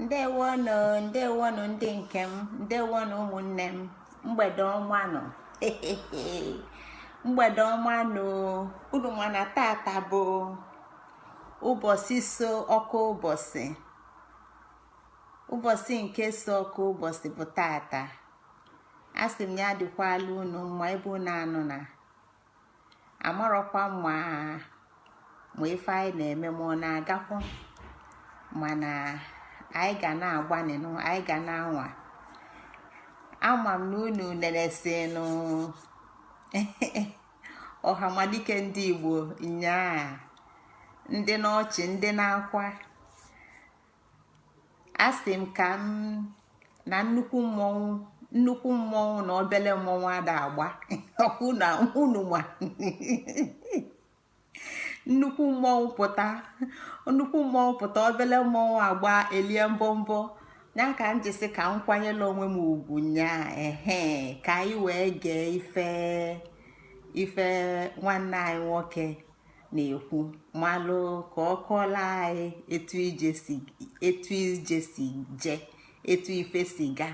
ndewonụ ndewonụ ndị nke m ndewonụ ụmụnne m mgbede ọma nụ mgbede ọma nụ unu ma na tata bụ ụbọsị so ọka ụbọsị ụbọsị nke so ọka ụbọsị bụ tata asị m ya dịkwala unu mma ebe unu nọ na amarọkwa m ma ife anyị na-eme ma ọ na-agakwa mana anyị ga na-agbanịnụ anyị ga na-anwa ama m na unu nenesinụ ọhamadike ndị igbo nyaa ndị n'ọchị ndị n'akwa asị m ka m na nnukwu mmọnwụ nnukwu mmọnwụ na obele mmọnwụ ada agba ọkụ na unu ma nnukwu mmọnwụ pụta nnukwu mmọnwụ pụta obele mmọnwụ agba elie mbọmbọ ya ka m ji sị ka m kwanyelụ onwe m ugwu nyaa ehe ka anyị wee gee ife ife nwanne anyị nwoke na-ekwu malụ ka ọ kọọlụ anyị etu ije si je etu ife si ga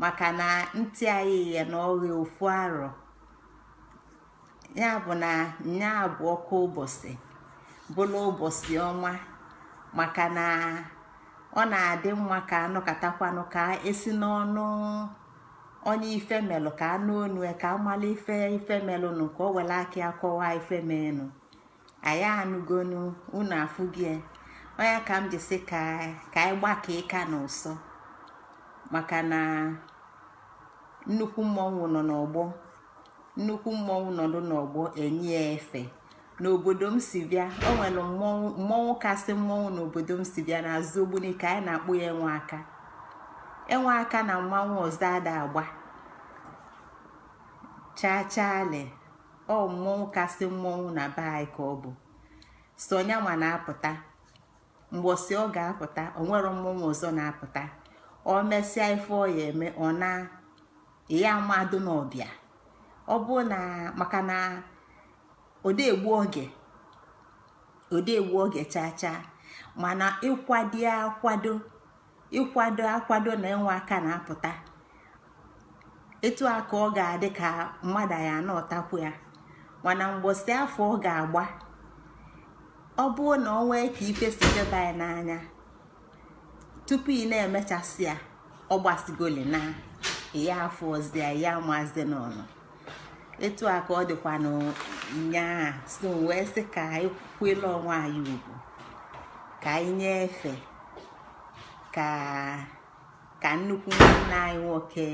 maka na ntị anyị ya na ọrịa ofu arọ ya bụ na nya bụ ọka ụbọsị bụla ụbọsị ọnwa maka na ọ na-adị mma ka a nụkatakwanụ ka e si n'ọnụ onye ife melụ ka a nụ ọnụ ya, ka a malụ ife ife melụnụ ka o welụ aka ya kọwaa ife menụ anyị anụgonụ unu afụgo ya. ọ ya ka m ji sị ka anyị gbaka ịka n'ụsọ maka na nnukwu mmọnwụ nọ n'ọgbọ nnukwu mmọnwụ nọdụ n'ọgbọ e nye ya efe n'obodo m si bịa o nwere mmọnwụ mmọnwụ kasị mmọnwụ n'obodo m si bịa n'azụ ogbunike anyị na-akpọ ya enwe aka enwe aka na mmanwụ ọzọ ada agba chaa chaa le ọ mmọnwụ kasị mmọnwụ na be anyị ka ọ bụ sọ nya ma na-apụta mgbọsị ọ ga-apụta o nwerọ mmọnwụ ọzọ na-apụta ọ mesịa ife ọ ya eme ọ na ya mmadụ n'ọbịa ọ bụ na maka na ọ da egbu oge ọ da egbu oge chaa chaa mana ị kwado akwado ị kwado akwado na enwe aka na-apụta etu a ka ọ ga-adị ka mmadụ ya anọtakwu ya mana mgbọsị afụ ọ ga-agba ọ bụ na o nwee ka ife si jeba ya n'anya tupu ị na-emechasị ya ọ gbasịgoli na ya afọ ọzọ ya ya amazi n'ọnụ etu a ka ọ dịkwa n'ụnyaa so wee sị ka anyị kwele onwe anyị ugwu ka anyị nye efe ka nnukwu nwanne anyị nwoke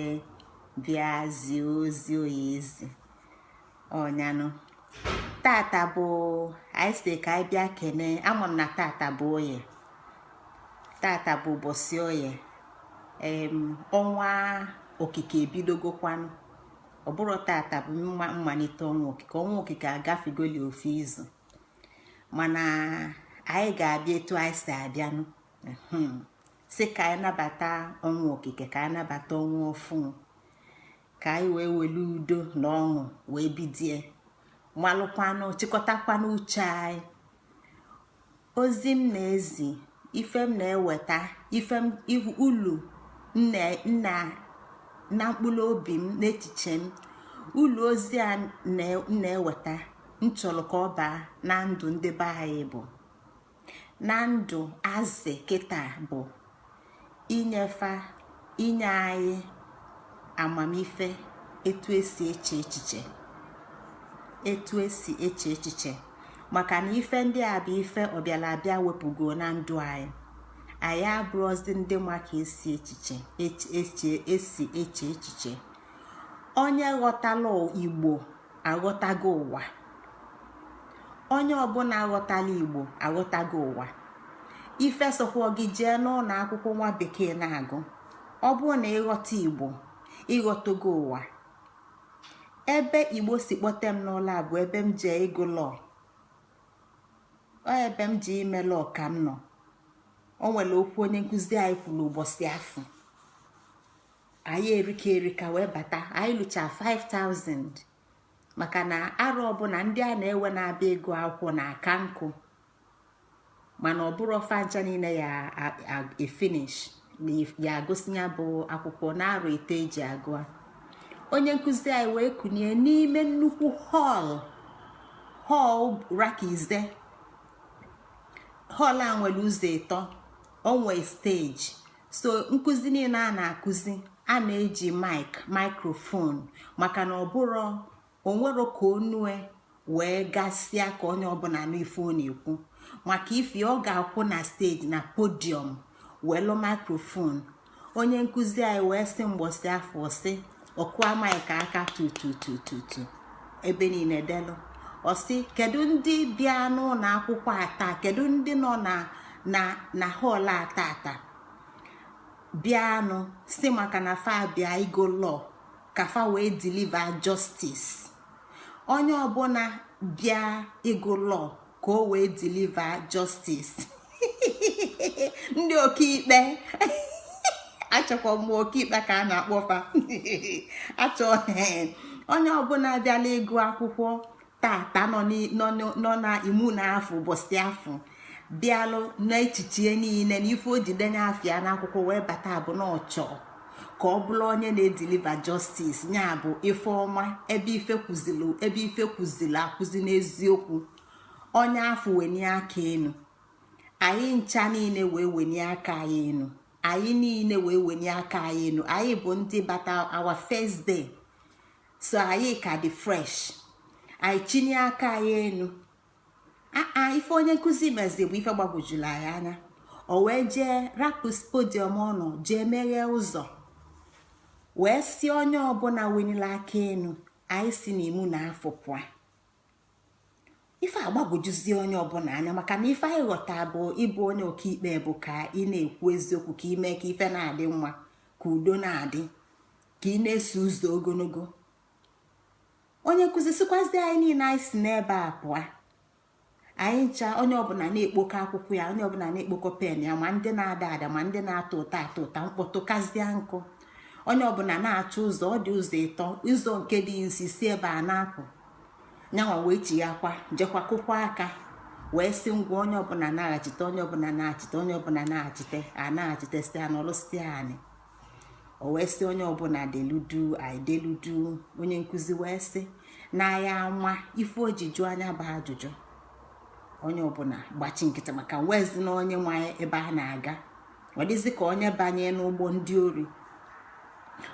bịa zie ozi ọ ya-ezi ọ ya nụ tata bụ anyị sị ka anyị bịa kene ama m na tata bụ oye tata bụ ụbọchị oye ọnwa okike ebidogokwanụ ọ bụrụ tata bụ mma mmalite ọnwa okike ọnwa okike agafegoli ofu izu mana anyị ga-abịa etu anyị si abịanụ sị ka anyị nabata ọnwa okike ka anyị nabata ọnwa ọfụụ ka anyị wee welu udo na ọṅụ wee bidie malụkwanụ chịkọtakwanụ uche anyị ozi m na-ezi ife m na-eweta ife m ulu na mkpụrụ obi m n'echiche m ulu ozi a na-eweta m chọrọ ka ọ baa na ndụ ndị be anyị bụ na ndụ azị kịta bụ inye fa inye anyị amamife etu esi eche echiche etu esi eche echiche maka na ife ndị a bụ ife ọbịala abịa wepụgo na ndụ anyị anyị abụrọzi ndị ma ka esi echiche esi eche echiche onye ghọtala igbo aghọtago ụwa onye ọbụla aghọtala igbo aghọtago ụwa ife sọkwa gị jee n'ụlọ akwụkwọ nwa bekee na-agụ ọ bụrụ na ị ghọta igbo ị ghọtago ụwa ebe igbo si kpọte m n'ụla bụ ebe m jee ịgụ law ebe m jee ime law ka m nọ o nwere okwu onye nkụzi anyị kwuru ụbọchị afụ anyị erika erika wee bata anyị lucha 5000 maka na arọ ọbụla ndị a na-ewe na-abịa agụ akwụkwọ na aka nkụ mana ọ bụrọ fa ncha niile ya efinish ya agụsị ya bụ akwụkwọ na arọ ise e ji agụ ya onye nkụzi anyị wee kụnye n'ime nnukwu hall hall rakize hall a nwere ụzọ ịtọ o nwee stage so nkụzi niile a na-akụzi a na-eji mic microphone maka na ọ bụrụ o nwerọ ka ọnụ ya wee gasịa ka onye ọbụla nụ ife ọ na-ekwu maka ife ọ ga-akwụ na stage na podium welu microphone onye nkụzi anyị wee sị mgbọsị afụ ọ sị ọ kụa maịk aka tututututu ebe niile delu ọ sị kedu ndị bịa n'ụlọ akwụkwọ a taa kedu ndị nọ na na na hall a tata bịanụ si maka na fa bịa ịgụ law ka fa wee deliver justice onye ọbụla bịa ịgụ law ka o wee deliver justice ndị ọkaikpe echekwa m ọkaikpe ka a na-akpọ fa achọ onye ọbụla bịalụ ịgụ akwụkwọ tata nọ n'ime ụnọ afụ ụbọsị afụ bịalụ n'echiche niile na ife o ji denye afa ya n'akwụkwọ wee bata bụ na ọ chọ ka ọ bụlụ onye na-edeliver justice nya bụ ife ọma ebe ife kwụzili ebe ife kwụzili akwụzi n'eziokwu onye afụ wenie aka enu anyị ncha niile wee wenie aka anyị enu anyị niile wee wenie aka anyị enu anyị bụ ndị bata our first day so anyị ka dị fresh anyị chinie aka anyị enu aa ife onye nkụzi mezi bụ ife gbagwojulu anyị anya o wee jee rapụ podium ọ nọ jee meghee ụzọ wee sị onye ọbụla wenili aka enu anyị si n'ime ụnọ afụ pụa ife agbagwojuzie onye ọbụla anya maka na ife anyị ghọta bụ ịbụ onye ọkaikpe bụ ka ị na-ekwu eziokwu ka i mee ka ife na-adị mma ka udo na-adị ka ị na-eso ụzọ ogologo onye nkụzi sịkwazi anyị niile anyị si n'ebe a pụa anyị ncha onye ọbụla na-ekpokọ akwụkwọ ya onye ọbụla na-ekpokọ pen ya ma ndị na-ada ada ma ndị na-atọ ụta atọ ụta mkpọtụ kazie nkụ onye ọbụla na-achọ ụzọ ọ dị ụzọ ịtọ ụzọ nke dị nso si ebe a na-apụ nyanwa wee chighakwa jekwa kụkwa aka wee sị ngwa onye ọbụla naghachite onye ọbụla nachite onye ọbụla nachite a nachite sị anyị nọlụsie anị o wee sị onye ọbụla delu duu anyị delu duu onye nkụzi wee sị na ya ama ife o ji jụa nya bụ ajụjụ onye ọbụla gbachi nkịtị maka nwezi na onye ma ebe a na-aga ọ dịzi ka onye banye n'ụgbọ ndị ori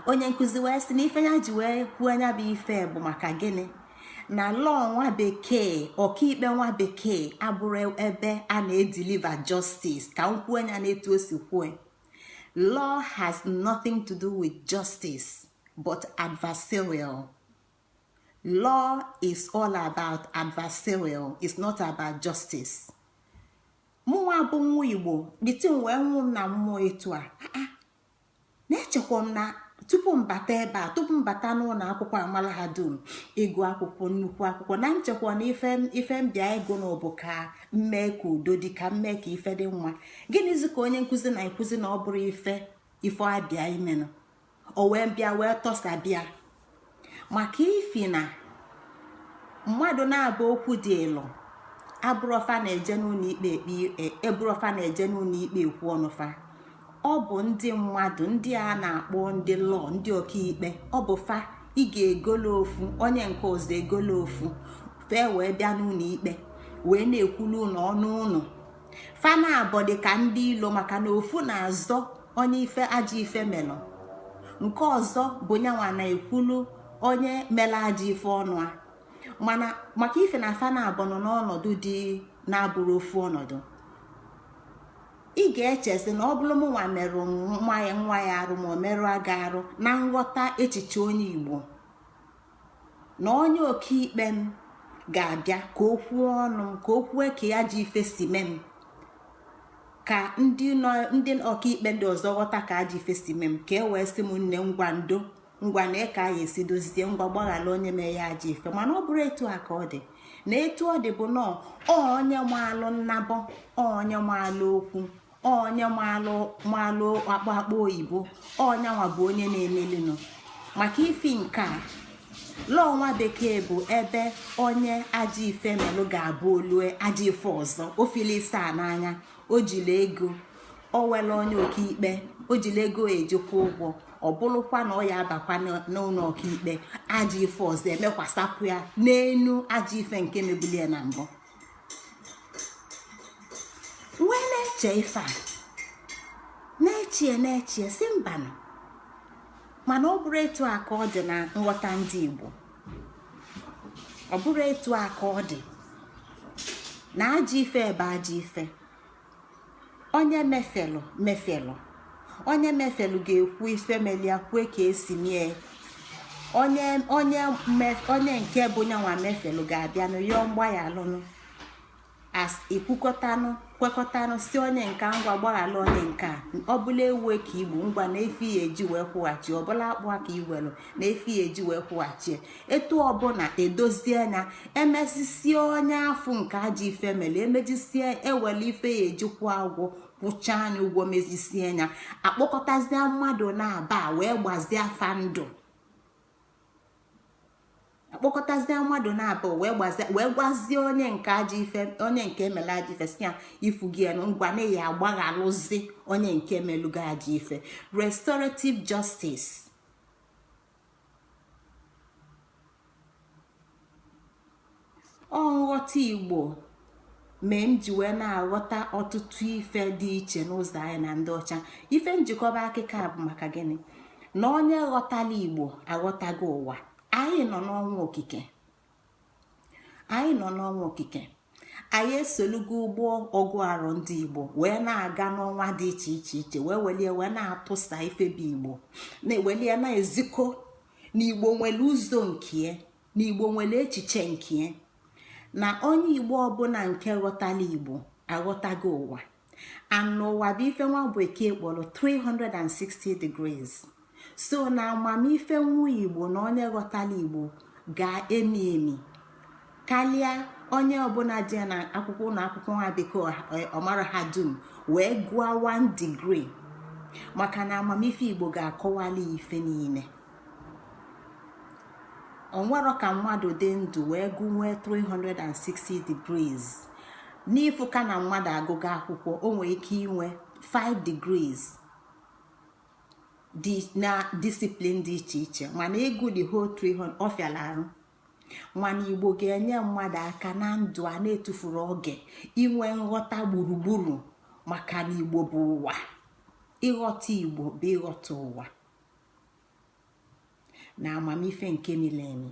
onye nkụzi wee sị na ife ya ji wee kwuo nya bụ ife bụ maka gịnị na law nwa bekee ọkaikpe nwa bekee abụrọ ebe a na-edeliver justice ka m kwuo nya n'etu o si kwue law has nothing to do with justice but adversarial law is all about adversarial is not about justice mụnwa bụ nwa igbo dịtị m wee nwụ m na mmụọ etu a ah, ah. na-echekwa m na tupu m bata ebe a tupu m bata n'ụlọ akwụkwọ amala ha dum ịgụ akwụkwọ nnukwu akwụkwọ na m chekwa na ife m bịa ịgụ na ọ bụ ka m mee ka udo dị ka m mee ka ife dị mma gịnịzi ka onye nkụzi na-ekwuzi na ọ bụrụ ife ife a bịa ime nụ o wee bịa wee tọsa bịa maka ifi na mmadụ naabọ okwu dịịlụ abụrọ fa na-eje n'ụlọ ikpe abụrọ fa e, na-eje n'ụlọ ikpe ekwu ọnụ fa ọ bụ ndị mmadụ ndị a na-akpọ ndị law ndị ọkaikpe ọ bụ fa ị ga-egolo ofu onye nke ọzọ egolo ofu fa ewee bịa n'ụlọ ikpe wee na-ekwulu unu ọnụ unu fa naabọ dị ka ndị ilo maka na ofu na-azọ onye ife ajọ ife melụ nke ọzọ bụ nyanwa na-ekwulu onye mela ajọ ife ọnụ ya mana maka ife na fa naabọ nọ n'ọnọdụ dị na-abụrọ ofu ọnọdụ ị ga-echezi na ọ bụrụ mụnwa merụ nwa ya nwa ya arụ ma ọ merụ aga arụ na nghọta echiche onye igbo na onye ọkaikpe m ga-abịa ka o kwuo ọnụ m ka o kwue ka ajọ ife si mee m ka ndị ọkaikpe ndị ọzọ ghọta ka ajọ ife si mee m ka e wee sị m nne ngwa ndo ngwa nee ka anyị esi dozie ngwa gbaghara onye mee ya ajọ ife mana ọ bụrụ etu a ka ọ dị na etu ọ dị bụ na onye maalụ nnabọ onye maalụ okwu onye malụ malụ akpọ akpọ oyibo ọ nyanwa bụ onye na-emelinụ maka ifi nke a law nwa bekee bụ ebe onye ajọ ife melụ ga-abụ o lue ajọ ife ọzọ o fili ise a n'anya o jiri ego o were onye ọkaikpe o jiri ego eji kwụọ ụgwọ ọ bụrụkwa na ọ ya-abakwa n'ụlọ ọkaikpe ajọ ife ọzọ emekwasapụ ya n'enu ajọ ife nke mebulu ya na mbụ wee na-eche ife a na-echie na-echie sị mbanụ mana ọ bụrụ etu a ka ọ dị na nghọta ndị Igbo ọ bụrụ etu a ka ọ dị na ajọ ife ebe ajọ ife onye mefelụ mefelụ onye mefelụ ga-ekwu ife meli ya kwue ka e si mie onye onye onye nke bụ nyanwa mefelụ ga-abịa nụ yọọ mgbaghalụnụ e kwukọtanụ kwekọtanụ sị onye nke a ngwa gbaghalụ onye nke a ọ bụlụ ewu ka i gbu ngwa nee ife i ya-eji wee kwụghachi ọ bụlụ akpụ ka i welụ nee ife i ya-eji wee kwụghachi etu ọbụla e dozie nya e mezisie onye afụ nke ajọ ife mere e mezisie e wele ife e ji kwụọ ụgwọ kwụchaa nya ụgwọ mezisie nya akpọkọtazie mmadụ naabọ wee gbazie fa ndụ akpọkọtazie mmadụ naabọ wee gbazie wee gwazie onye nke ajọ ife onye nke e melu ajọ ife sị ya ị fụgo nụ ngwa na ya agbaghalụzi onye nke melu gị ajọ ife restorative justice ọ nghọta igbo mee m ji wee na-aghọta ọtụtụ ife dị iche n'ụzọ anyị na ndị ọcha ife m ji kọba akịkọ a bụ maka gịnị na onye ghọtala igbo aghọtago ụwa anyị nọ n'ọnwa okike anyị nọ n'ọnwa okike anyị esolugo ụgbọ ọgụ arọ ndị igbo wee na-aga n'ọnwa dị iche iche iche wee welie wee na-atụsa ife bụ igbo na-ewelie na-ezikọ na igbo nwere ụzọ nke na igbo nwere echiche nke na onye igbo ọbụla nke ghọtala igbo aghọtago ụwa and ụwa bụ ife nwa bekee kpọlọ 360 degrees so na amamife nwa igbo na onye ghọtala igbo ga-emi emi kalịa onye ọbụla jee na akwụkwọ ụnọ akwụkwọ nwa bekee ọ marahadum wee gụọ 1 degree maka na amamife igbo ga-akọwali ife niile o nwerọ ka mmadụ dị ndụ wee gụnwee 360 degrees n'ịfụ ka na mmadụ agụgo akwụkwọ o nwere ike inwe 5 degrees na discipline dị iche iche mana ịgụ the whole 300 ọ fịala arụ mana igbo ga-enye mmadụ aka na ndụ a na-etufurọ oge inwe nghọta gburugburu maka na igbo bụ ụwa ịghọta igbo bụ ịghọta ụwa na amamife nke mili emi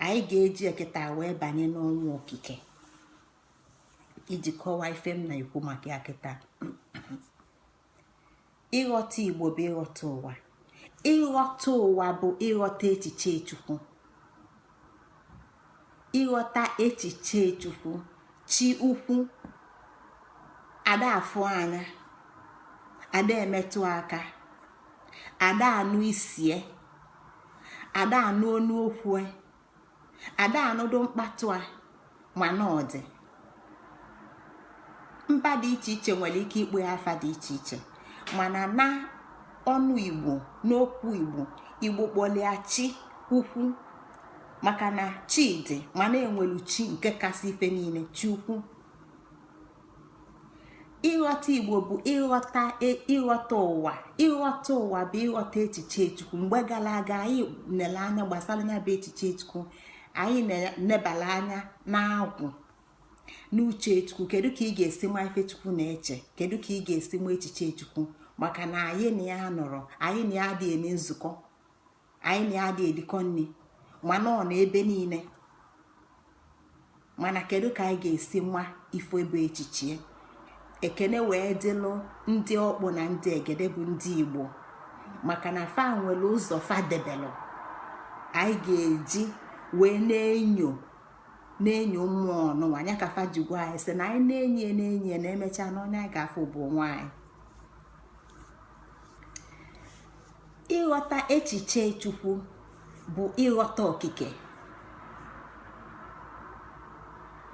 anyị ga-ejie kịta wee banye n'ọnwa okike iji kọwaa ife m na-ekwu maka ya kịta ịghọta igbo bụ ịghọta ụwa ịghọta ụwa bụ ịghọta echiche chukwu ịghọta echiche chukwu chi ukwu ada afụ anya ada emetụ aka ada anụ isie ada anụ onu okwue ada anụdụ mkpatụ a mana ọ dị mba dị iche iche nwere ike ịkpọ ya afa dị iche iche mana na ọnụ igbo n'okwu igbo igbo kpọlịa chi ukwu maka na chi dị mana e nwelu chi nke kasị ife niile chi ukwu ịghọta igbo bụ ịghọta e, ịghọta ụwa ịghọta ụwa bụ ịghọta echiche chukwu mgbe gala aga anyị nele anya gbasala ya bụ echiche chukwu anyị nebala anya n'agwụ n'uche chukwu kedu ka ị ga-esi ma ife chukwu na-eche kedu ka ị ga-esi ma echiche chukwu maka na anyị na ya anọrọ anyị na ya adị eme nzukọ anyị na ya adị erikọ nri mana ọ nọ ebe niile mana kedu ka anyị ga-esi ma ife bụ echiche ya ekene wee dịlụ ndị ọkpụ na ndị egede bụ ndị igbo maka na fa nwere ụzọ fa debelụ anyị ga-eji wee na-enyo na-enyo mmụọ ọnụnwa anya ka fa ji gwa anyị sị na anyị na-enyo na-enyo na emechaa na onye anyị ga-afụ bụ onwe anyị ịghọta echiche chukwu bụ ịghọta okike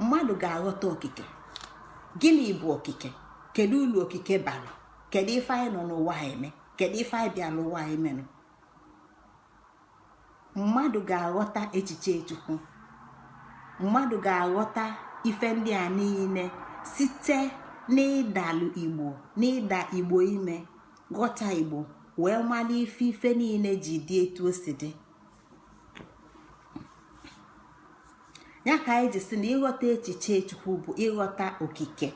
mmadụ ga-aghọta okike gịnị bụ okike kedu ulu okike bara kedu ife anyị nọ n'ụwa eme kedu ife anyị bịalụ ụwa ime nụ mmadụ ga-aghọta echiche chukwu mmadụ ga-aghọta ife ndị a niile site n'ịdalụ igbo n'ịda igbo ime ghọta igbo wee mara ife ife niile ji dị etu o si dị ya ka anyị ji sị na ịghọta echiche chukwu bụ ịghọta okike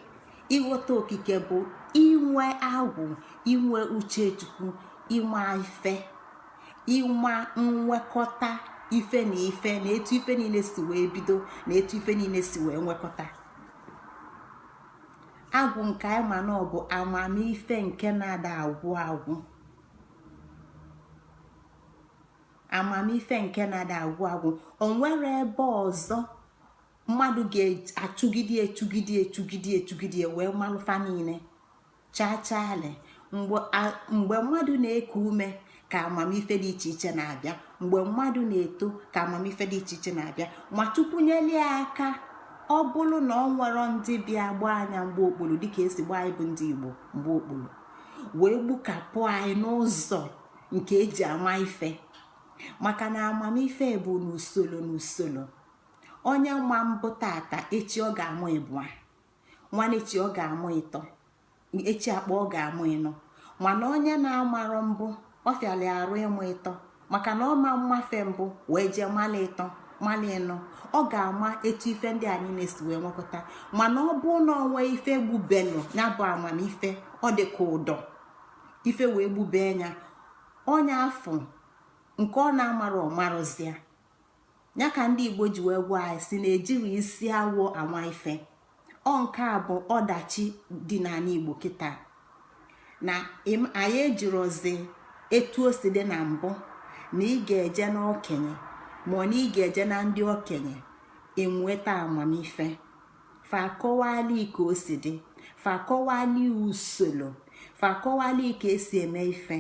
ịghọta okike bụ inwe agwụ inwe uche chukwu ịma ife ịma nwekọta ife na ife na etu ife niile si wee bido na etu ife niile si wee nwekọta agwụ nke anyị ma na ọ bụ amamife nke na-ada agwụ agwụ amamife nke na-ada agwụ agwụ o nwerọ ebe ọzọ mmadụ ga-achụgide chụgide chụgide chụgide wee malụ fa niile chaa chaa le mgbe mmadụ na-eku ume ka amamife dị iche iche na-abịa mgbe mmadụ na-eto ka amamife dị iche iche na-abịa ma chukwu nyelie aka ọ bụrụ na o nwerọ ndị bịa gbaa ya mgba okpuru dịka esi gbaa anyị bụ ndị Igbo mgba okpuru wee gbukapụ anyị n'ụzọ nke eji ama ife maka na amamife bụ n'usoro n'usoro onye ma mbụ tata echi ọ ga-amụ ịbụa nwanne echi ọ ga-amụ ịtọ echi akpa ọ ga-amụ ịnọ mana onye na-amarọ mbụ ọ fịalụ arụ ịmụ ịtọ maka na ọ ma amafe mbụ wee jee mala ịtọ mala ịnọ ọ ga-ama etu ife ndị a niile si wee nwekọta mana ọ bụ na o nwee ife gbubelụ ya bụ amamife ọ dị ka ụdọ ife wee gbubee ya onye afụ nke ọ na-amarọ ọ marọzị ya ya ka ndị igbo ji wee gwa anyị sị na ejiro isi awọ ama ife ọ nke a bụ ọdachi dị n'anị igbo kịta na anyị ejirozi etu o si dị na mbụ na ị ga-eje n'okenye ma ọ na ị ga-eje na ndị okenye inweta amamife fa akọwali ka o si dị fa akọwali usolo fa akọwali ka esi eme ife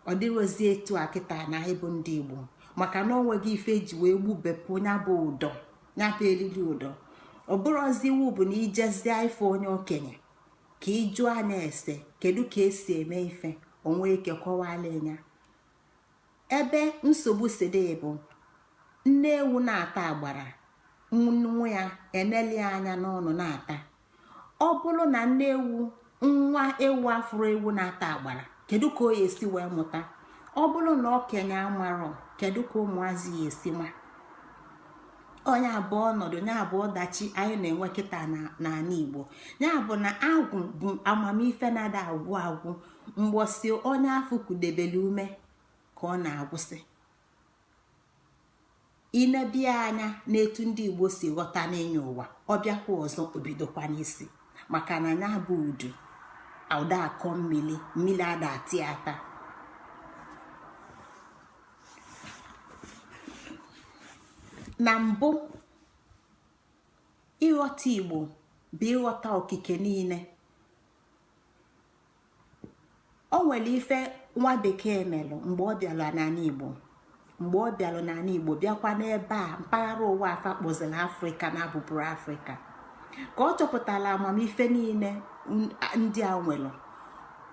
ọ dịrozi etu a kịta na anyị bụ ndị igbo maka na onweghị ife eji wee gbubepụ ya bụ ụdọ ya bụ elili ụdọ ọ bụrụzi iwu bụ na i jezie ịfụ onye okenye ka ị jụa nya ese kedu ka esi eme ife o nwe ike kọwala ya ebe nsogbu si dị bụ nne ewu na-ata agbara nwa ya eneli anya n'ọnụ na-ata ọ bụrụ na nne ewu nwa ewu afụrọ ewu na-ata agbara kedu ka ọ ya-esi wee mụta ọ bụrụ na okenye amarọ kedu ka ụmụazị ya-esi ma ọ nya bụ ọnọdụ nya bụ ọdachi anyị na-enwe kịta n'ala igbo ya bụ na agwụ bụ amamife na-ada agwụ agwụ mbọsị onye afụ kudebelu ume ka ọ na-agwụsị i nebe anya n'etu ndị igbo si ghọta n'ịnyọ ụwa ọ bịakwa ọzọ o bidokwa n'isi maka na nya bụ udu ada akọ mmili mmili ada ata ata na mbụ ịghọta igbo bụ ịghọta okike niile o nwere ife nwa bekee melu mgbe ọ bịara n'ala igbo mgbe ọ bịara n'ala igbo bịakwa n'ebe a mpaghara ụwa a fa kpọzịrị afrịka na abụbụrọ afrịka ka ọ chọpụtara amamife niile ndị a nwere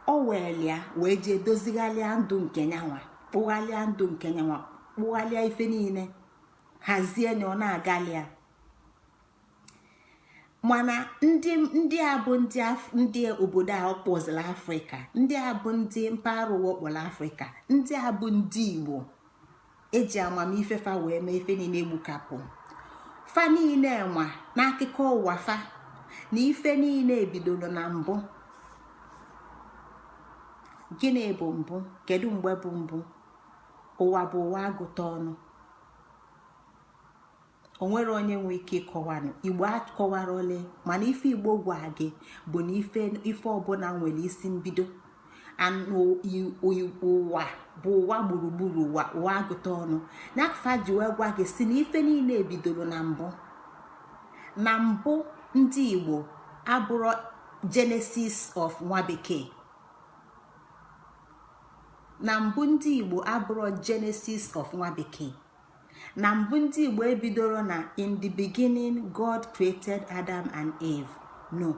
o were ya wee jee dozigharịa ndụ nke nyanwa kpụgharịa ndụ nke nyanwa kpụgharịa ife niile hazie nya ọ na-agalị ya mana ndị a bụ ndị obodo a kpọzịrị afrịka ndị a bụ ndị mpaghara ụwa a kpọrọ afrịka ndị a bụ ndị igbo eji amamife fa wee mee ife niile egbukapụ fa niile nwa n'akụkọ ụwa fa na ife niile ebidoro na mbụ gịnị bụ mbụ kedu mgbe bụ mbụ ụwa bụ ụwa agụta ọnụ o nwerọ onye nwe ike ịkọwanwu igbo akọwarọ ole mana ife igbo gwa gị bụ na ife ọbụla nwere isi mbido na ụwa bụ ụwa gburugburu ụwa agụta ọnụ na fa ji wee gwa gị sị na ife niile ebidoro na mbụ na mbụ ndị igbo abụrọ genesis of nwa bekee na mbụ ndị igbo abụrọ genesis of nwa bekee na mbụ ndị igbo ebidoro na in the beginning god created adam and eve no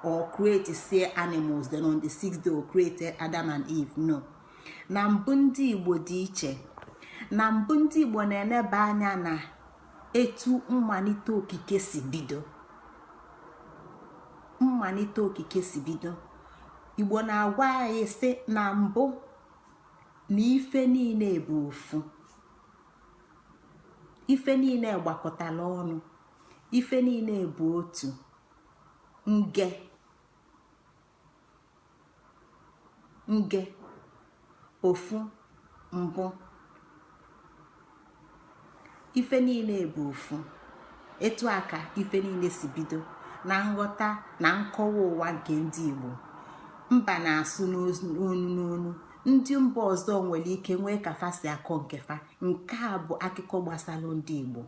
o createsịa animals then on the sixth day o created adam and eve no na mbụ ndị igbo dị iche na mbụ ndị igbo na-eneba anya na etu mmalite okike si bido mmalite okike si bido igbo na-agwa anyị sị na mbụ na ife niile bụ ofu ife niile gbakọtala ọnụ ife niile bụ otu nge nge ofu mbụ ife niile bụ ofu etu a ka ife niile si bido na nghọta na nkọwa ụwa nke ndị Igbo mba na-asụ n'onu n'onu ndị mba ọzọ nwere ike nwee ka fa si akọ nke fa nke a bụ akụkọ gbasara ndị igbo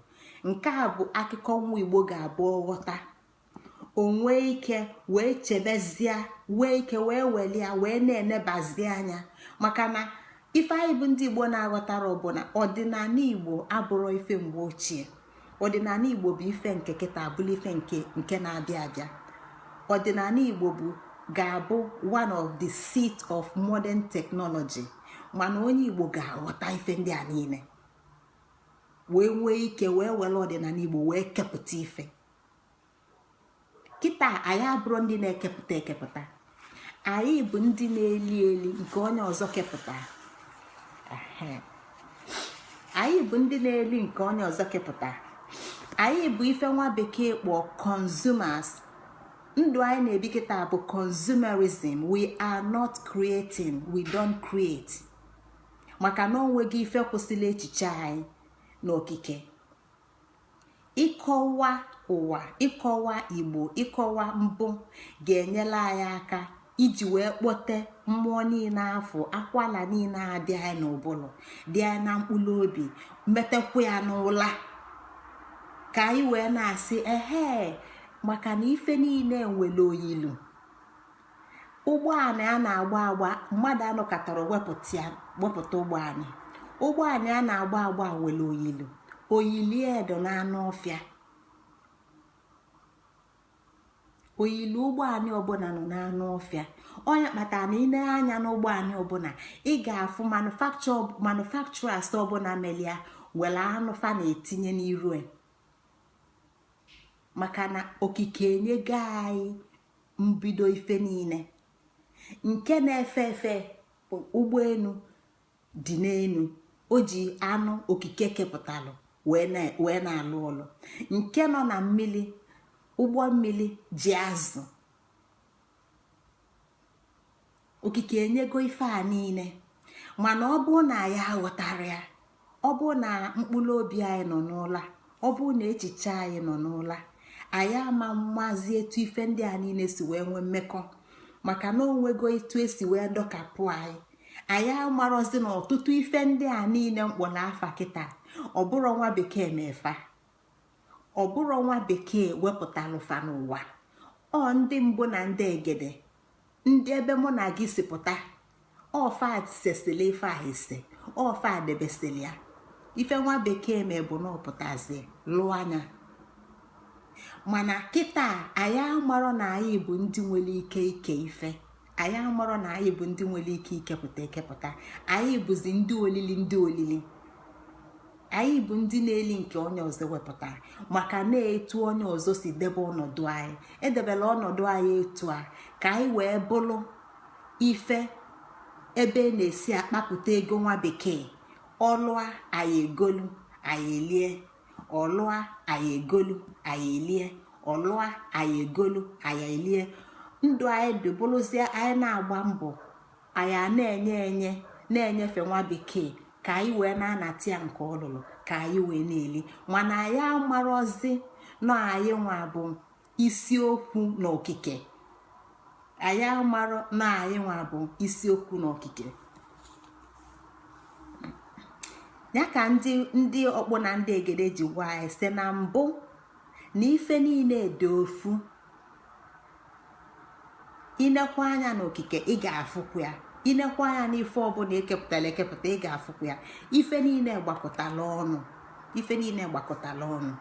nke a bụ akụkọ nwa igbo ga-abụ ọ ghọta o nwee ike wee chebezie nwee ike wee welu ya wee na-enebazi anya maka na ife anyị bụ ndị igbo na-aghọtarọ bụ na ọdịnala igbo abụrọ ife mgbe ochie ọdịnala igbo bụ ife nke kịta bụlụ ife nke na-abịa abịa ọdịnala igbo bụ ga-abụ one of the seat of modern technology mana onye igbo ga-aghọta ife ndị a niile wee nwee ike wee were ọdịnala igbo wee kepụta ife kịta anyị abụrọ ndị na-ekepụta ekepụta anyị bụ ndị na-eli eli nke onye ọzọ kepụta anyị bụ ndị na-eli nke onye ọzọ kepụta anyị bụ ife nwa bekee kpọọ consumers ndụ anyị na-ebi kịta bụ consumerism we are not creating we don't create maka na o nwego ife kwụsịlị echiche anyị n'okike ịkọwa ụwa ịkọwa igbo ịkọwa mbụ ga-enyelu anyị aka iji wee kpọte mmụọ niile afụ akwala niile a dị anyị n'ụbụrụ dị anyị na mkpụrụ obi metekwa ya n'ụla ka anyị wee na-asị ehe maka na ife niile nwere oyilu ụgbọala a na-agba agba mmadụ anọkatarọ wepụta ụgbọala ụgbọala a na-agba agba nwere oyilu oyilu e dị na anụ ọfịa oyilu ụgbọala ọbụla nọ n'anụ ọfịa ọ nya kpatara na i ne anya n'ụgbọala ọbụla ị ga-afụ manufacturers ọbụla melu ya nwere anụ fa na-etinye n'iru e. maka na okike enyego anyị mbido ife niile nke na-efe efe ụgbọelu dị n'elu o ji anụ okike kepụtalụ wee na-alụ ọlụ nke nọ na mmiri ụgbọ mmiri ji azụ okike enyego ife a niile mana ọ bụrụ na anyị aghọtarọ ya ọ bụrụ na mkpụrụ obi anyị nọ n'ụla ọ bụrụ na echiche anyị nọ n'ụla anyị ama amazi etu ife ndị a niile si wee nwee mmekọ maka na o nwego etu e si wee dọkapụ anyị anyị amarọzi na ọtụtụ ife ndị a niile m kpọrọ afa kịta ọ bụrọ nwa bekee me fa ọ bụrọ nwa bekee wepụtalụ fa n'ụwa ọ ndị mbụ na ndị egede ndị ebe mụ na gị si pụta ọ fa sesịlị ife a ise ọ fa debesịlị ya ife nwa bekee me bụ na ọ pụtazi lụọ anya mana kịta anyị amarọ na anyị bụ ndị nwere ike ike ife anyị amarọ na anyị bụ ndị nwere ike ikepụta ekepụta anyị bụzi ndị olili ndị olili anyị bụ ndị na-eli nke onye ọzọ wepụtara maka na etu onye ọzọ si debe ọnọdụ anyị edebela ọnọdụ anyị etu a ka anyị wee bụrụ ife ebe na-esi akpapụta ego nwa bekee ọ lụa anyị egolu anyị elie ọ lụa anyị egolu anyị elie ọ lụa anyị egolu anyị elie ndụ anyị dị bụrụzie anyị na-agba mbọ anyị a na-enye enye na-enyefe nwa bekee ka anyị wee na-anata ya nke ọ lụlụ ka anyị wee na-eli mana anyị amarọzi na anyị nwa bụ isiokwu na okike anyị amarọ na anyị nwa bụ isiokwu na okike ya ka ndị ọkpụ na ndị egede ji gwa anyị sị na mbụ na ife niile dị ofu i nekwa anya n'okike ị ga-afụkwa ya i nekwa anya n'ife ọbụla e kepụtara ekepụta ị ga-afụkwa ya ife niile gbakọtala ọnụ ife niile gbakọtala ọnụ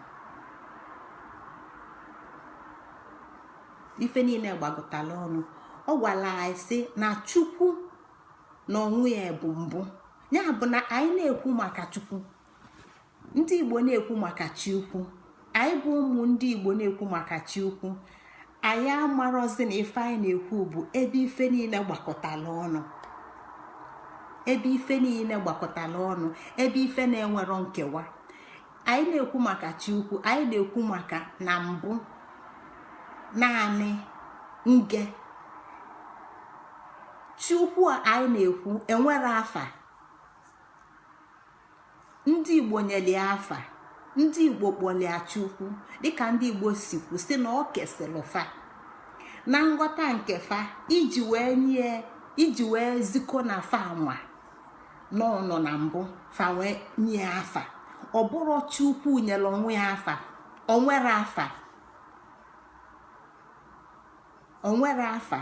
ife niile gbakọtala ọnụ ọ gwara anyị sị na chukwu na onwe ya bụ mbụ ya bụ na anyị na-ekwu maka chukwu ndị igbo na-ekwu maka chi ukwu anyị bụ ụmụ ndị igbo na-ekwu maka chi ukwu anyị amarọzi na ife anyị na-ekwu bụ ebe ife niile gbakọtala ọnụ ebe ife niile gbakọtala ọnụ ebe ife na-enwerọ nkewa anyị na-ekwu maka chi ukwu anyị na-ekwu maka na mbụ naanị nge chi ukwu anyị na-ekwu enwerọ afa ndị igbo nyeli ya afa ndị igbo kpọlị ya chukwu dịka ndị igbo si kwu sị na o kwesịlị fa na nghọta nke fa iji wee nye iji wee ziko na fa nwa na ọ nọ na mbụ fa wee nye ya afa ọ bụrọ chukwu nyere onwe ya afa o nwerọ afa o nwerọ afa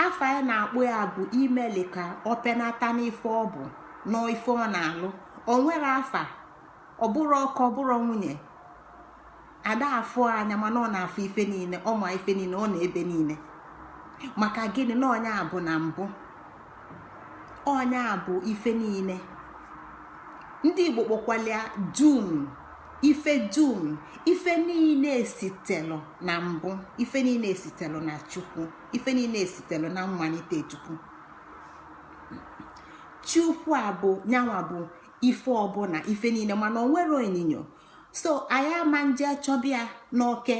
afa anyị na-akpọ ya bụ imeli ka ọ penata n'ife ọ bụ na ife ọ na-alụ o nwerọ afa ọ bụrọ oke ọ bụrọ nwunye a da-afụ anya mana ọ na-afụ ife niile ọ ma ife niile ọ nọ ebe niile maka gịnị na onye a bụ na mbụ onye a bụ ife niile ndị igbo kpọkwalị ya dum ife dum ife niile esitelụ na mbụ ife niile esitelụ na chukwu ife niile esitelụ na mmalite chukwu chukwu a bụ nyanwa bụ ife ọbụna ife niile mana o nwerọ onyinyo so anyị ama nje chọba ya n'oke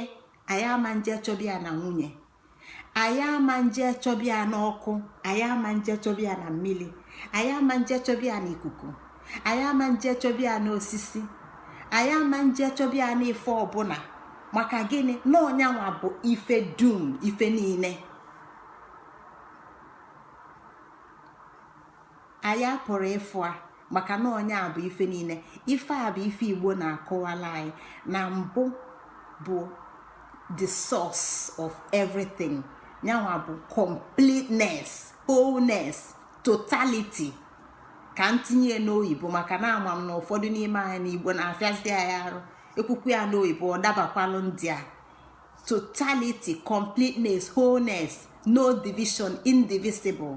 anyị ama nje chọba ya na nwunye anyị ama nje chọba ya n'ọkụ anyị ama nje chọba ya na mmili anyị ama nje chọba ya na ikuku anyị ama nje chọba ya na osisi anyị ama nje chọba ya na ife ọbụna maka gịnị na ọ nyanwa bụ ife dum ife niile anyị apụrọ ịfụ ya maka na onye a bụ ife niile ife a bụ ife igbo na-akọwalụ anyị na mbụ bụ the source of everything yanwa bụ completeness wholeness totality ka m tinye n'oyibo maka na ama m na ụfọdụ n'ime anyị na igbo na-afịazi anyị arụ e kwukwuo ya n'oyibo ọ dabakwalụ ndị a totality completeness wholeness no division indivisible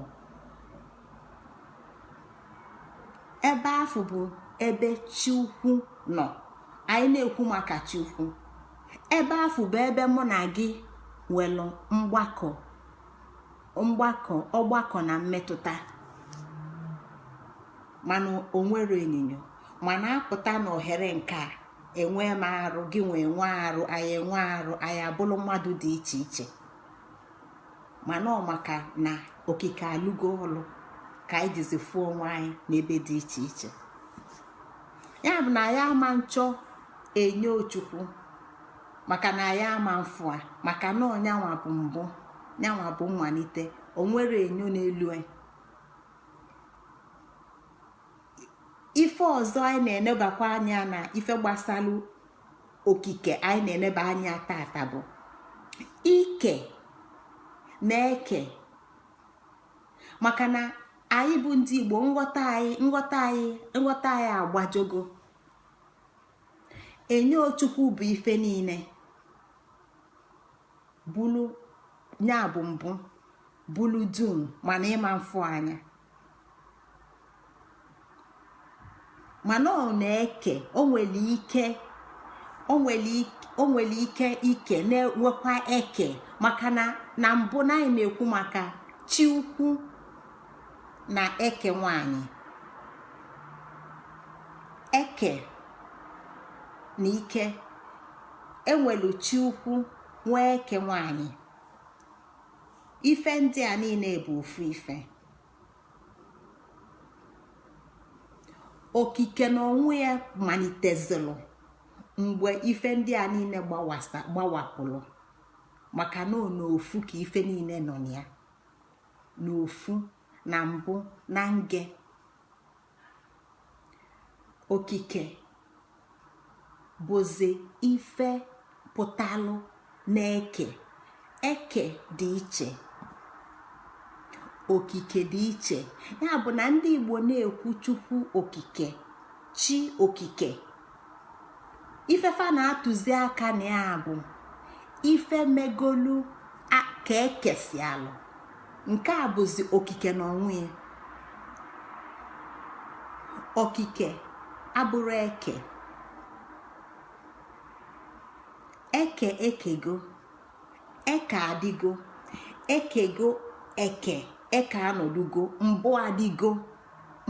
ebe afụ bụ ebe chi ukwu nọ anyị na-ekwu maka chi ukwu ebe afụ bụ ebe mụ na gị nwelu mgbakọ ọgbakọ na mmetụta mana o nwerọ onyinyo mana a pụta na ohere nke a enwe m arụ gị nwee nwe arụ anyị enwe arụ anyị abụrụ mmadụ dị iche iche mana ọ maka na okike alụgo ọlụ ka anyị jizi fụ onwe anyị n'ebe dị iche iche ya bụ na anyị ama nchọ enyo chukwu maka na anyị ama mfụ ya maka na ọ nyanwa bụ mbụ nyanwa bụ mmalite o nwerọ enyo n'elu e. ife ọzọ anyị na-enebakwa anya na ife gbasalụ okike anyị na-eneba anya tata bụ ike na eke maka na anyị bụ ndị Igbo nghọta anyị agbajogo enye Chukwu bụ ife niine bụlụ nya bụ mbụ bụlụ dum mana ịma mfụ anya mana ọ na-eke o nwelu ike o nwelu ike ike na-enwekwa eke maka na na mbụ na anyị na-ekwu maka chi ukwu na eke nwanyị eke na ike e nwelu chi ukwu nwee eke nwanyị ife ndị a niine bụ ofu ife okike na onwe ya malitezilụ mgbe ife ndị a niine gbawapụlụ maka na ọ n'ofu ka ife niine nọ na ya n'ofu na mbụ na nge okike bụzi ife pụtalụ na eke eke dị iche okike dị iche ya bụ na ndị Igbo na-ekwu Chukwu okike chi okike ife fa na-atụzi aka na ya bụ ife megolu ka e kesịalụ nke a bụzi okike na onwe ya okike abụrọ eke eke ekego eke adịgo ekego eke eke anọdugo mbụ adịgo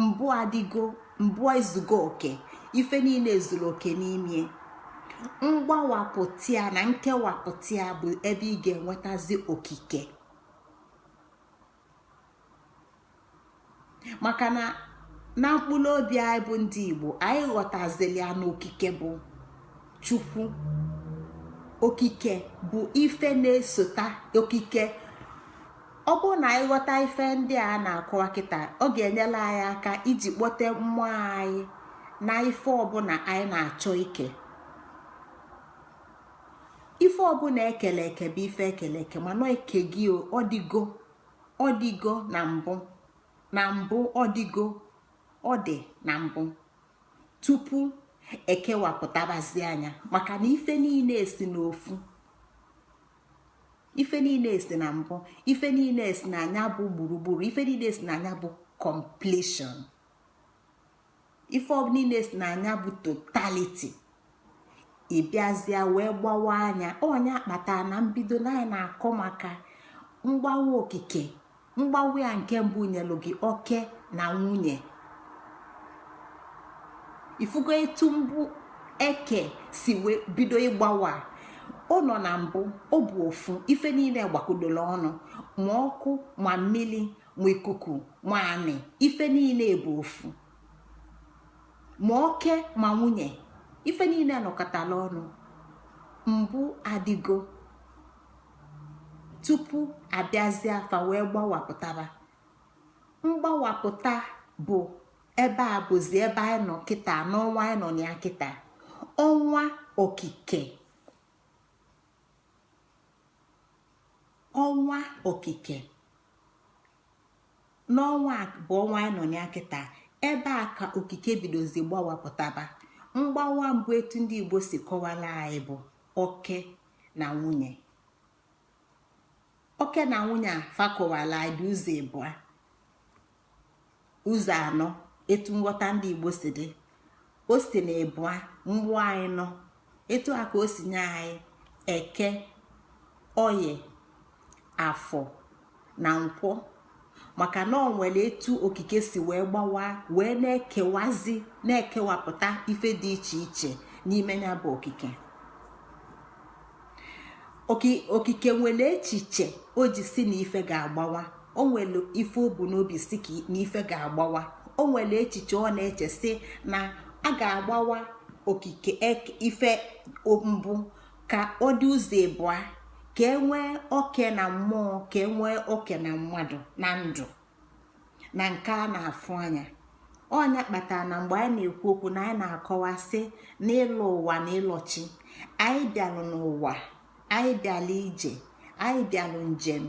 mbụ adịgo mbụ ezugo oke ife niile ezulu oke n'ime mgbawapụta ya na nkewapụta ya bụ ebe ị ga-enwetazi okike maka na na mkpụlụ obi anyị bụ ndị Igbo anyị ghọtazili ya na okike bụ Chukwu okike bụ ife na-esota okike ọ bụrụ na anyị ghọta ife ndị a na-akọwa kịta ọ ga-enyelụ anyị aka iji kpọte mmụọ anyị na ife ọbụna anyị na-achọ ike ife ọbụna e kelu eke bụ ife e kelu eke mana eke gị ọ dịgo ọ dịgo na mbụ na mbụ ọ dịgo ọ dị na mbụ tupu e kewapụtabazia nya maka na ife niine esi n'ofu ife niine esi na mbụ ife niine esi na nya bụ gburugburu ife niine esi na nya bụ completion ife niile si na nya bụ totality ị bịazịa wee gbawaa nya ọ nya kpata na mbido na anyị na-akọ maka mgbawa okike mgbawa ya nke mbụ nyelụ gị oke na nwunye ị fụgo etu mbụ eke si wee bido ịgbawa ọ nọ na mbụ ọ bụ ofu ife niile gbakọdolu ọnụ ma ọkụ ma mmiri ma ikuku ma anị ife niile bụ ofu ma oke ma nwunye ife niile nọkọtalụ ọnụ mbụ adịgo tupu a bịazịa fa wee gbawapụtaba mgbawapụta bụ ebe a bụzi ebe anyị nọ kịta n'ọnwa anyị nọ na ya kịta ọnwa okike ọnwa okike n'ọnwa bụ ọnwa anyị nọ ya kịta ebe a ka okike bidozi gbawapụtaba mgbawa mbụ etu ndị igbo si kọwara anyị bụ oke na nwunye oke na nwunye a fa kọwalụ anyị dị ụzọ ịbụa ụzọ anọ etu nghọta ndị igbo si dị o si na ịbụa gbaa n'ịnọ etu a ka o si nye anyị eke oye afọ na nkwọ maka na o nwere etu okike si wee gbawa wee na-ekewazi na-ekewapụta ife dị iche iche n'ime ya bụ okike okike nwere echiche o ji sị na ife ga-agbawa o nwere ife o bu n'obi sị ka na ife ga-agbawa o nwere echiche ọ na-eche sị na a ga-agbawa okike e, ife mbụ ka ọ dị ụzọ ịbụa ka e nwee oke na mmụọ ka e nwee oke na mmadụ na ndụ na nke a na-afụ anya ọ nya kpatara na mgbe anyị na-ekwu okwu na anyị na-akọwa sị na ịlọ ụwa na ịlọ chi anyị bịalụ n'ụwa anyị bịalụ ije anyị bịalụ njem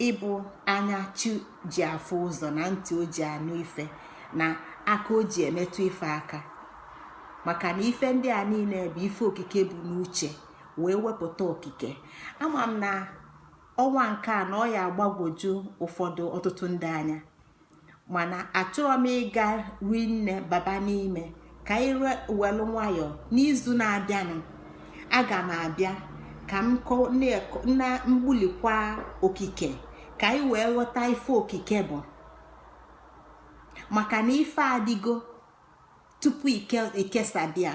ịbụ anya chi ji afụ ụzọ na ntị o ji anụ ife na aka o ji emetụ ife aka maka na ife ndị a niile bụ ife okike bu n'uche wee wepụta okike ama m na ọnwa nke a na ọ ya-agbagwoju ụfọdụ ọtụtụ ndị anya mana achọrọ m ịga rinne baba n'ime ka anyị welu nwayọọ n'izu na-abịanụ aga m abịa ka m gbulikwa okike ka anyị wee ghọta ife okike bụ maka na ife adịgo tupu i kesaba ya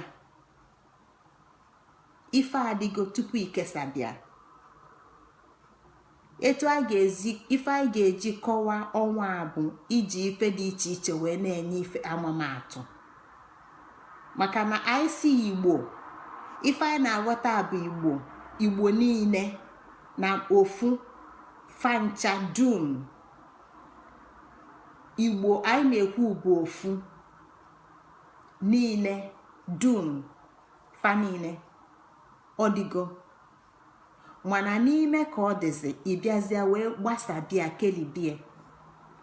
ife adịgo tupu e kesabịa etu ife anyị ga-eji kọwaa ọnwa a bụ iji ife dị iche iche wee na-enye ife amamatụ maka na anyị si igbo ife anyị na-aghọta bụ igbo igbo niile n'ofu fa ncha dum igbo anyị na-ekwu bụ ofu niile dum fa niile ọ dịgo mana n'ime ka ọ dịzi ị bịazịa wee gbasabịa kelibie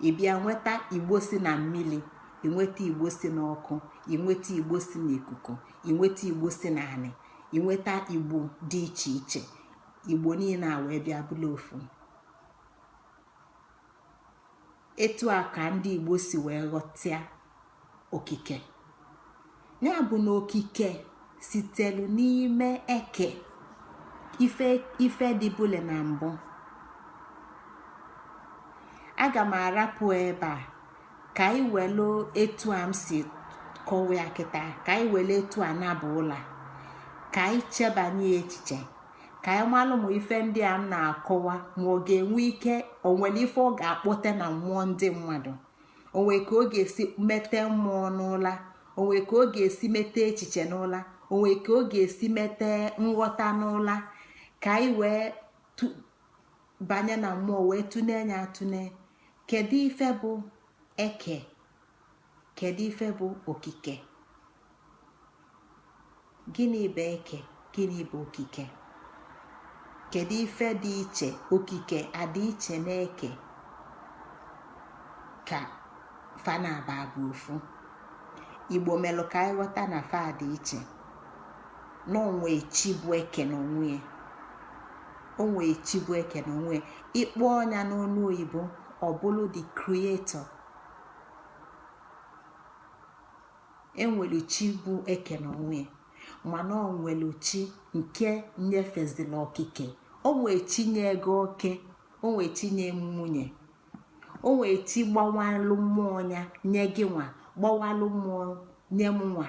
ị bịa nweta igbo si na mmili i nweta igbo si n'ọkụ i nweta igbo si n'ikuku i nweta igbo si n'anị i nweta igbo dị iche iche igbo niile a wee bịa bụla ofu etu a ka ndị igbo si wee ghọtịa okike nya bụ na okike sitelu n'ime eke ife dịbụle na mbụ aga m arapụ ebe a ka anyị welu etu a m si kọwa ya kịta ka anyị wele etu a naba ụla ka anyị chebanye echiche ka anyị malụ ma ife ndị a m na-akọwa ma ọ ga-enwe ike o nwele ife ọ ga-akpọte na mmụọ ndị mmadụ o nwe ka ọ ga-esi mete mmụọ n'ụla o nwe ka ọ ga-esi mete echiche n'ụla o nwe ka ọ ga-esi mete nghọta n'ụla ka anyị wee banye na mmụọ wee tụnee nya atụne kedu ife bụ eke kedu ife bụ okike gịnị bụ eke gịnị bụ okike kedu ife dị iche okike a dị iche na eke ka fa naabọ bụ ofu igbo melu ka anyị ghọta na fa dị iche na o nwe chi bụ eke n'onwe ya o nwe chi bụ eke n'onwe ya ị kpọọ nya n'ọnụ oyibo ọ bụlụ the creator e nwelu chi bụ eke n'onwe mana o nwelu chi nke nyefezila okike o nwe chi nye gị oke o nwe chi nye nwunye o nwe chi gbawalụ mmụọ nya nye gịnwa gbawalụ mmụọ nye mụnwa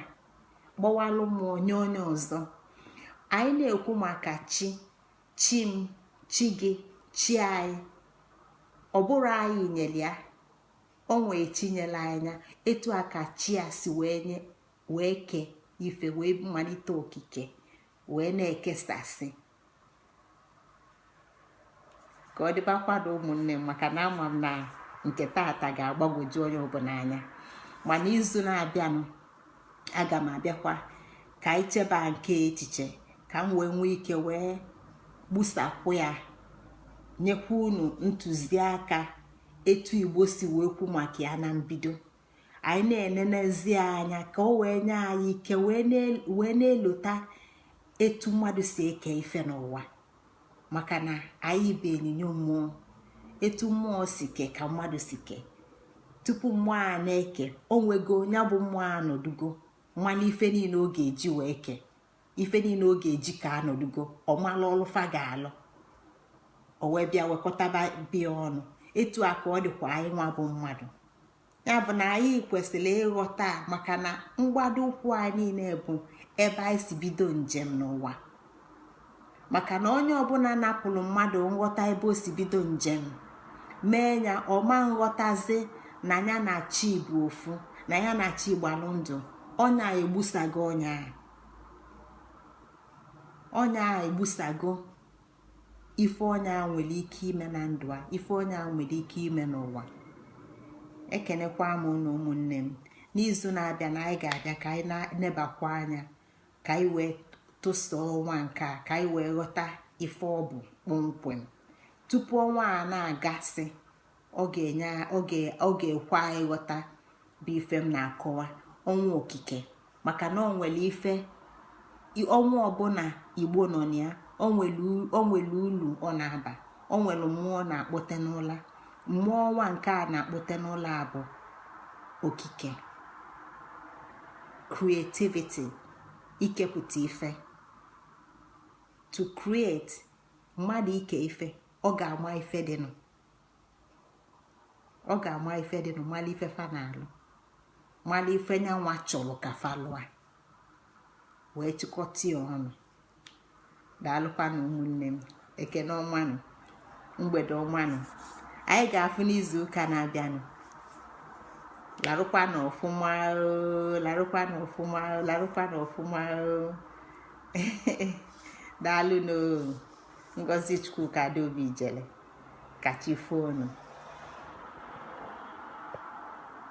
gbawalụ mmụọ nye onye ọzọ anyị na-ekwu maka chi chi m chi gị chi anyị ọ bụrụ anyị nyelu ya o wee chinyela anya etu a ka chi a si wee kee ife wee malite okike wee na-ekesasị ka ọ dịbakwado ụmụnne m maka na ama m na nke tata ga-agbagwoju onye ọbụla anya ma n'izu na-abịanụ aga m abịakwa ka anyị cheba nke echiche ka m wee nwee ike wee gbusapụ ya nyekwa unu ntụziaka etu igbo si wee kwu maka ya na mbido anyị na-enenezi anya ka o wee nye anyị ike wee na-elota etu mmadụ si eke ife n'ụwa maka na anyị bụ enyinyo mmụọ etu mmụọ si ke ka mmadụ si ke tupu mmụọ a na-eke o nwego ya bụ mmụọ anọdugo malụ ife niile ọ ga-eji wee ke ife niile ọ ga-eji ke anọdugo ọ malụ ọlụ fa ga-alụ o wee bịa wekọtaba ya ọnụ etu a ka ọ dịkwa anyị nwa bụ mmadụ ya bụ na anyị kwesịrị ịghọta maka na mgbado ụkwụ anyị niile bụ ebe anyị si bido njem n'ụwa maka na onye ọbụla napụrụ mmadụ nghọta ebe o si bido njem mee ya ọ ma nghọtazi na ya na chi bụ ofu na ya na chi gbalụ ndụ onye a egbusago onye ahụ onye a egbusago ife onye a nwere ike ime na ndụ a ife onye a nwere ike ime n'ụwa ekenekwa m unu ụmụnne m n'izu na-abịanụ anyị ga-abịa ka anyị nebakwa anya ka anyị wee tụsa ọnwa nke a ka anyị wee ghọta ife ọ bụ kpọmkwem tupu ọnwa a na-agasị ọ ga-ekwe anyị nghọta bụ ife m na-akọwa ọnwa okike maka na o nwere ife ọnwa ọbụla igbo nọ na ya o nwere ulu ọ na-aba o nwere mmụọ ọ na-akpọte n'ụla mmụọ ọnwa nke a na-akpọte n'ụla bụ okike creativity ikepụta ife to create mmadụ ike ife ọ ga-ama ife dịnụ ọ ga-ama ife dịnụ malụ ife fa na-alụ malụ ife nyanwa chọrọ ka fa lụa wee chịkọta ya ọnụ daalụkwanụ ụmụnne m ekene ọmanụ mgbede ọmanụ anyị ga-afụ n'izu ụka na-abịanụ larụkwanụ ọfụma larụkwanụ ọfụma larụkwanụ ọfụma daalụnụ o ngozi chukwuka adaobi ijele ka chi fonụ